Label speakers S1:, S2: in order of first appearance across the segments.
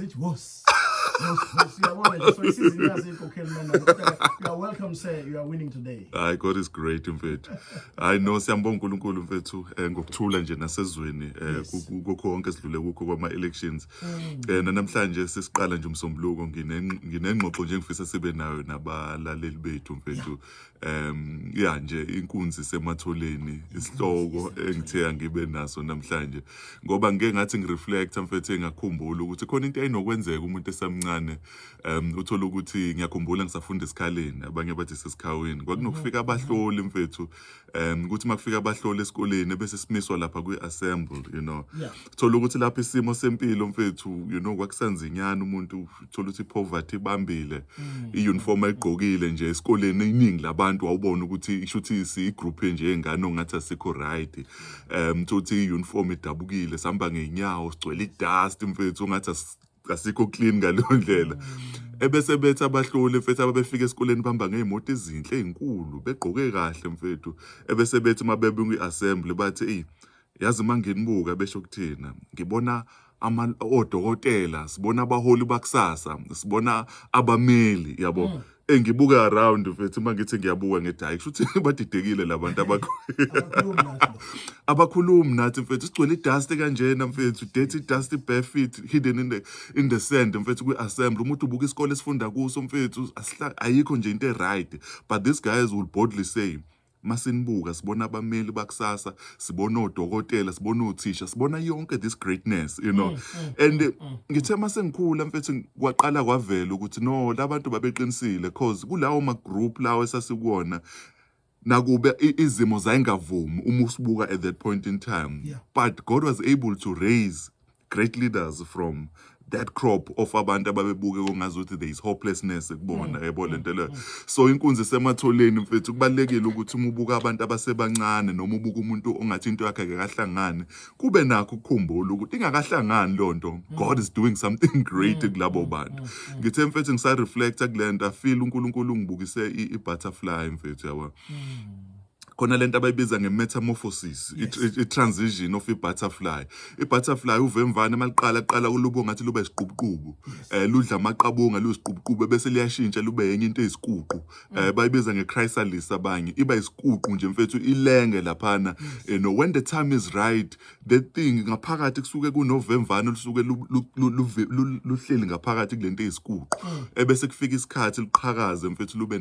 S1: It was. hayi god is great
S2: mfethu hayi no siyambonga unkulunkulu mfethu um ngokuthula nje nasezweni um kukho konke sidlule kukho kwama-elections um nanamhlanje sesiqala nje umsombuluko nginengxoxo nje ngifisa sibe nayo nabalaleli bethu mfethu um ya nje inkunzi sematholeni isihloko engithe angibe naso namhlanje ngoba ngike ngathi ngireflecta mfethu engakhumbula ukuthi khona into ayinokwenzeka umuntu esamncane um uthola ukuthi ngiyakhumbula ngisafunda esikhaleni abanye bathi sesikhawini kwakunokufika mhm. abahloli mfethu um ukuthi makufika abahloli esikoleni bese simiswa lapha kwi-assemble you know thola ukuthi lapho isimo sempilo mfethu you know kwakusanzinyana umuntu thola ukuthi poverty ibambile mm. iuniform ayigqokile nje esikoleni iningi labantu wawubona ukuthi isho ukuthi sigroup nje engane ongathi asikho right um thothi uniform idabukile sihamba ngeenyawo sigcwele idust mfethu ongathi asikho clean ngaleyo ndlela mm. ebese bethi abahloli mfethu ababefika esikoleni bamba ngey'moto ezinhle ey'nkulu begqoke kahle mfethu ebese bethi uma bebe kwi-assembly bathi eyi yazi uma nginibuka besho kuthina ngibona ama odokotela sibona abaholi bakusasa sibona abameli yabo mm. engibuka around mfethu uma ngithi ngiyabuka ngithi hayi kusho ukuthi badidekile labantu abakhulumi nathi mfethu sigcwele idust kanjena mfethu dirty dust bare feet hidden in the, in the sand mfethu kwi-assembly umuntu ubuka isikole esifunda kuso mfethu ayikho nje into e-right but these guys will boldly say masinibuka sibona abameli bakusasa sibona odokotela sibona othisha sibona yonke this greatness you know mm, mm, and mm, ngithe masengikhula mfethu kwaqala kwavela ukuthi no labantu babeqinisile cause kulawo ma group lawo esasikuwona nakube izimo zayingavumi uma usibuka at that point in time yeah. but god was able to raise great leaders from that crop of abantu ababebuke kungazuthi there is hopelessness kubona mm. yebo lento leyo mm. so inkunzi sematholeni mfethu kubalekile ukuthi uma ubuka abantu abasebancane noma ubuka umuntu ongathi into yakhe akahlangani kube nakho ukukhumbula ukuthi ingakahlangani lonto mm. god is doing something great kulabo bantu ngithe mfethu ngisa reflecta kulento i feel uNkulunkulu ngibukise i butterfly mfethu yabo khona lento abayibiza nge-metamorphosis i-transition of i-butterfly i-butterfly uvemvane maliqala qala ulubo ngathi lube isiqubuqubu um eh, ludla amaqabunga luyisiqubuqubu bese liyashintsha lube yenye into eyisikuqu um eh, bayibiza nge-chrysalis abanye iba yisikuqu nje mfethu ilenge laphana you eh, know when the time is right the thing ngaphakathi kusuke kunovemvane olusuke luhleli ngaphakathi kulento eyisikuqo mm. ebese kufika isikhathi liqhakaze mfethu lube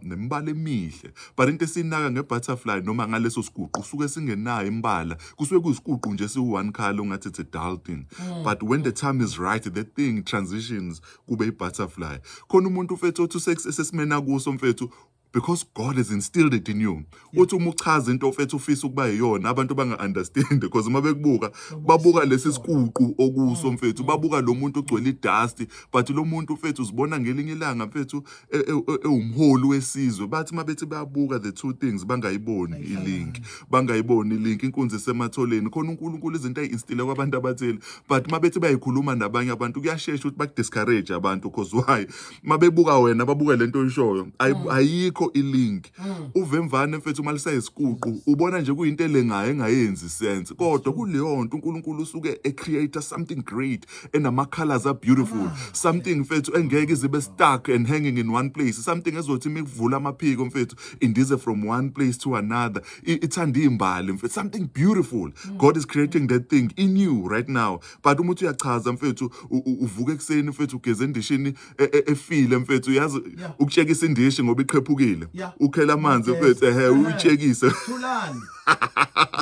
S2: nemibala emihle but into esinaka ngebutterfly noma ngaleso siguqu suke singenayo imbala kusuke kuyisiguqu nje siwu-one color ongathi it's a dull thing mm. but when the time is right the thing transitions kube i-butterfly khona umuntu mfethu othi sesimena kuso mfethu because God has instilled it in you uthi uma uchaza into ofethu ufisa ukuba yiyona abantu banga-understand because uma bekubuka babuka lesi sikuqu okuso mm, mfethu mm. babuka lo muntu ogcwele idasti but lo muntu mfethu uzibona ngelinye ilanga mfethu e, e, e, ewumholi wesizwe bathi uma bethi bayabuka the two things bangayiboni ilink bangayiboni ilink inkunzi isematholeni khona unkulunkulu izinto ayi-instile kwabantu abathile but uma bethi bayikhuluma nabanye abantu kuyashesha ukuthi baku-discourage abantu because why mabebuka wena babuke lento oyishoyo mm. ayikho ilink mm. uvemvane mfethu uma lisayisikuqu ubona nje kuyinto elengayo engayenzi sense kodwa kuleyo nto uNkulunkulu usuke e create something great enama colors are beautiful ah. something mfethu engeke izibe stuck and hanging in one place something ezothi mikuvula amaphiko mfethu indize from one place to another ithanda imbali mfethu something beautiful mm. god is creating that thing in you right now but uma uthi uyachaza mfethu u- u- uvuka ekuseni mfethu ugeze endishini e- e- efile mfethu uyazi Yeah. ukutshekisa indishi ngoba iqhephukile Yeah. ukhela amanzi Yes. mfethu ehe Ehe. uyitshekise Thulani.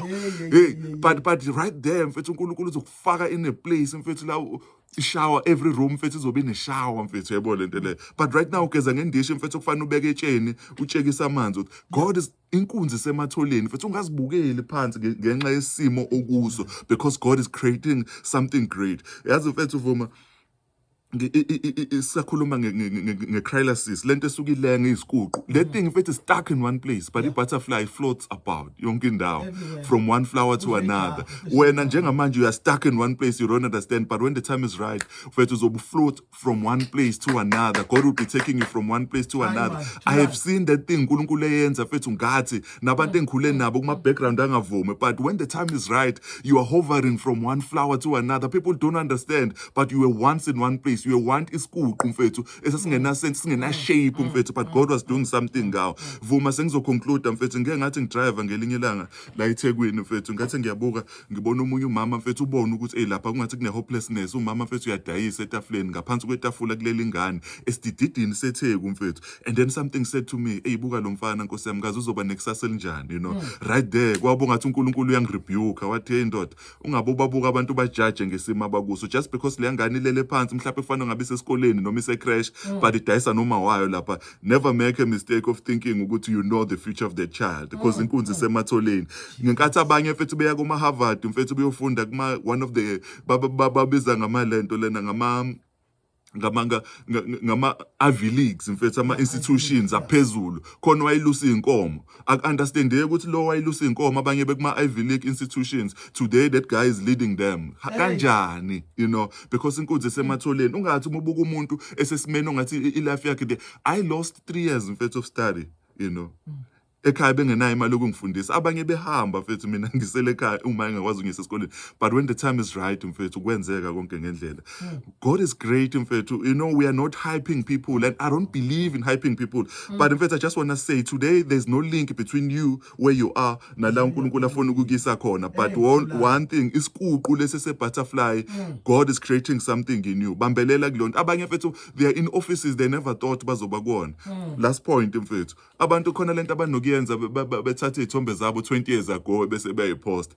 S2: Hey, hey, hey, hey hey. but but right there mfethu uNkulunkulu uzokufaka in a place mfethu la u- shower every room mfethu izobe ine shower mfethu yebo lento le but right now ugeza ngendishi mfethu kufanele ubeke etsheni utshekisa amanzi uthi, god is inkunzi isematholeni futhi ungazibukeli phansi ngenxa yesimo okuso because god is creating something great yazi mfethu vuma isakhuluma nge-crylasis le nto esuke ilenge izikuqu le thing mfethu stuck in one place but i-butterfly floats about yonke indawo from one flower
S1: to
S2: another wena njengamanje you are stuck in one place you don't understand but when the time is right mfethu uzobufloat from one place to another god will be taking you from one place to another i have seen that thing unkulunkulu eyenza fethu ngathi nabantu engikhule nabo kuma-background angavumi but when the time is right you are hovering from one flower to another people don't understand but you were once in one place you were want isikuqu mfethu esasingenasense singenashape mm. mfethu but god was doing something ngawo vuma sengizoconcluda mfethu ngike ngathi ngidrive ngelinye ilanga la ethekwini mfethu ngathi ngiyabuka ngibona omunye umama mfethu ubona ukuthi eyi lapha kungathi kune-hopelessness umama mfethu uyadayisa etafuleni ngaphansi kwetafula kuleli ngane esidididini setheku mfethu and then something said to me eyi buka lo mfana nkosi yami kaze uzoba nekusasa elinjani you know hmm. right there kwabo ngathi unkulunkulu uyangirebuka wathi heyi ndoda ungabe ubabuka abantu bajaje ngesimo abakuso just because le ngane ilele phansi mhlawumbe kufanele ngabe isesikoleni noma isecrash hmm. but idayisa noma wayo lapha never make a mistake of thinking ukuthi you know the future of the child because mm. inkunzi isematholeni ngenkathi abanye mfethu beya kuma Harvard mfethu beyofunda kuma one of the babiza ngama lento lena ngama ngamanga ngama Ivy Leagues mfethu ama institutions aphezulu khona wayelusa inkomo Aku-understandeki ukuthi lo wayelusa iy'nkomo abanye bekuma-Ivy League institutions today that guy is leading them Ha- Hey. kanjani you know because inkunzi esematholeni ungathi uma ubuka umuntu esesimeni ongathi i- i-life yakhe nje i lost three years mfethu of study you know ekhaya bengenayo imali yokungifundisa abanye behamba mfethu mina ngisele ekhaya uma engakwazi ukungisa esikoleni but when the time is right mfethu kwenzeka konke ngendlela God is great, in fact. You know, we are not hyping people, and I don't believe in hyping people. Mm. But in fact, I just want to say today there's no link between you where you are nala uNkulunkulu afuna ukukisa khona. But one, one thing is kuqu lesi se butterfly. Mm. God is creating something in you. Bambelela kulonto. Abanye mfethu they are in offices they never thought bazoba kuona. Mm. Last point mfethu. Abantu khona lento abanokuyenza bethatha izithombe zabo 20 years ago bese beyayipost.